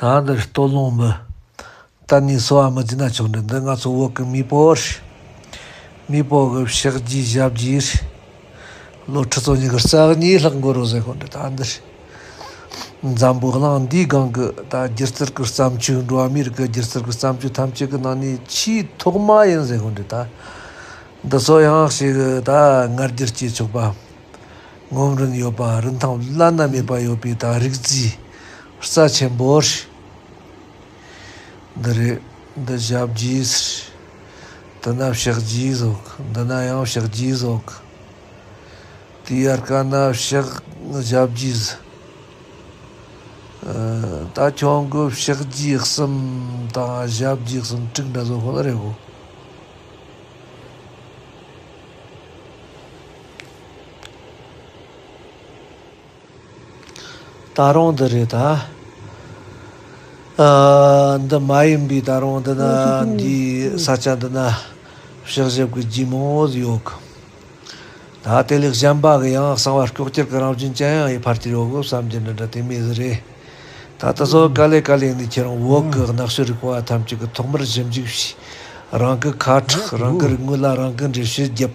ད་འདི་ལྟོ་སློང་མི་གཏན་ནས་གསོ་བ་མི་བྱེད་ན་ཆོག་འདི་འདི་ང་ཚོ་བོད་ཀྱི་མེས་པོ་རེད། མེས་པོ་གི་ཕྱག་རྒྱའི་ཞབས་རྗེས་རེད། བློ་ཁྲི་ཚོ་གཉིས་ཀྱི་རྩ་གཉིས་ལྷག་མགོ་རུ་བཟེད་དགོས་འདི་ད་འདི་རེད། འཛམ་བུ་གླིང་འདིའི་སྒང་གི་ད་སྒྱུ་རྩལ་གྱི་བརྩམས་ཆོས་འགྲོ་བ་མིའི་རིགས་ཀྱི་སྒྱུ་རྩལ་གྱི་བརྩམས་ཆོས་ཐམས་ཅད་ཀྱི་ནང་ནས་ཆེས་ཐོག་མ་ཡིན་བཟེད་དགོས་འདི་ད་འདི་ཚོ་ཡང་ཞིག་ད་ངར་སྒྱུར་བྱེད་ཆོག་པ། ངོམ་རིན་ཡོད་པ་རིན་ཐང་བླ་ན་མེད་པ་ཡོད་པའི་དང་རིག་རྩིས་རྩ་ཆེན་པོ། འདི་རེད་འདི་ཞབས་རྗེས། འདི་ན་ཕྱག་རྗེས་གཟུགས་འདི་ན་ཡང་ཕྱག་རྗེས་གཟུགས། དེའི་ཡར་ཀ་ན་ཕྱག་ཞབས་རྗེས། ད་ཁྱོད་ཀྱི་ཕྱག་རྗེས་གསུམ་དང་ཞབས་རྗེས་གསུམ་དྲུག་འདྲ་བཟོ་དགོས་ན་རེད་གོ། ད་རུང་འདི་རེད་ད། འདི་མ་ཡིན་པའི་ད་རུང་འདི་ན་འདིའི་ས་ཆ་འདི་ན་གཤག་བཞེབ་ཀྱི་རྒྱུ་མང་བོ་ཟིག་ཡོད་གི། ད་དེ་ལས་གཞན་པ་གི་ཡང་གསང་བ་སྐྱོག་གྱེར་གྱི་རང་བཞིན་ཅན་ཡང་ཡི་བར་དུ་ཡོད་གི་བསམ་གྱི་འདི་འདྲ་དེ་མེད་ཟིག་རེད། ད་དེ་ཚོ་ག་ལས་ག་ལས་ནི་ཁྱེད་རང་འོག་གི་ནགས་ཤོད་རིག་པ་བ་ཐམས་ཅད་ཀྱི་ཐོག་མར་ཞིབ་འཇུག་བྱས། རང་གི་ཁ་ཁྲག་རང་གི་རིག་དངོས་ལ་རང་གི་འགྲེལ་བཤད་བརྒྱབ།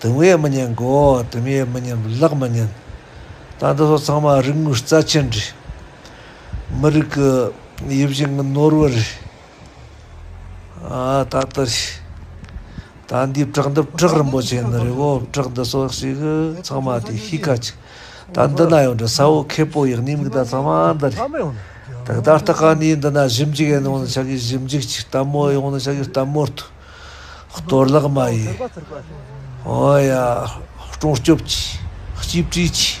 དུམ་ཡས་མི་ཉན་མགོ་བོ་དུམ་ཡས་མི་ཉན་ལག་མི་ཉན། ད་འདི་སོགས་ཚང་མ་རིག་དངོས་རྩ་ཆེན་འདྲི། མི་རིགས་ཀྱི་ཡིད་བཞིན་གྱི་ནོར་བུ་རེད། ད་ལྟ་ད་འདིའི་བྲག་འདི་བྲག་རིན་པོ་ཆེ་ནི་རེད་བོ་བྲག་འདི་སོགས་ཞིག་གི་ཚང་མ་དེ་གཤིས་ཀ་ཅིག་ད་འདི་ན་ཡོད་འདྲ་ས་འོག་ཁེ་སྤོགས་ཡག་ཉེས་དམིགས་ད་ཚང་མ་འདི་རེད། ད་ད་ལྟ་ཁ་ནས་འདི་ན་ཞིབ་འཇུག་ཡང་ཡོང་ནི་ཆགས་ཀྱི་ཞིབ་འཇུག་ཅིག་ལྟད་མོ་ཡོང་ནི་ཆགས་ཀྱི་ལྟད་མོར་དུ། གཏོར་བརླག་མ་ཡིན། ཧོ་ཡ། སྤྲོ་སྐྱོབ་ཀྱིས། གཅིག་བྲིས་ཀྱིས།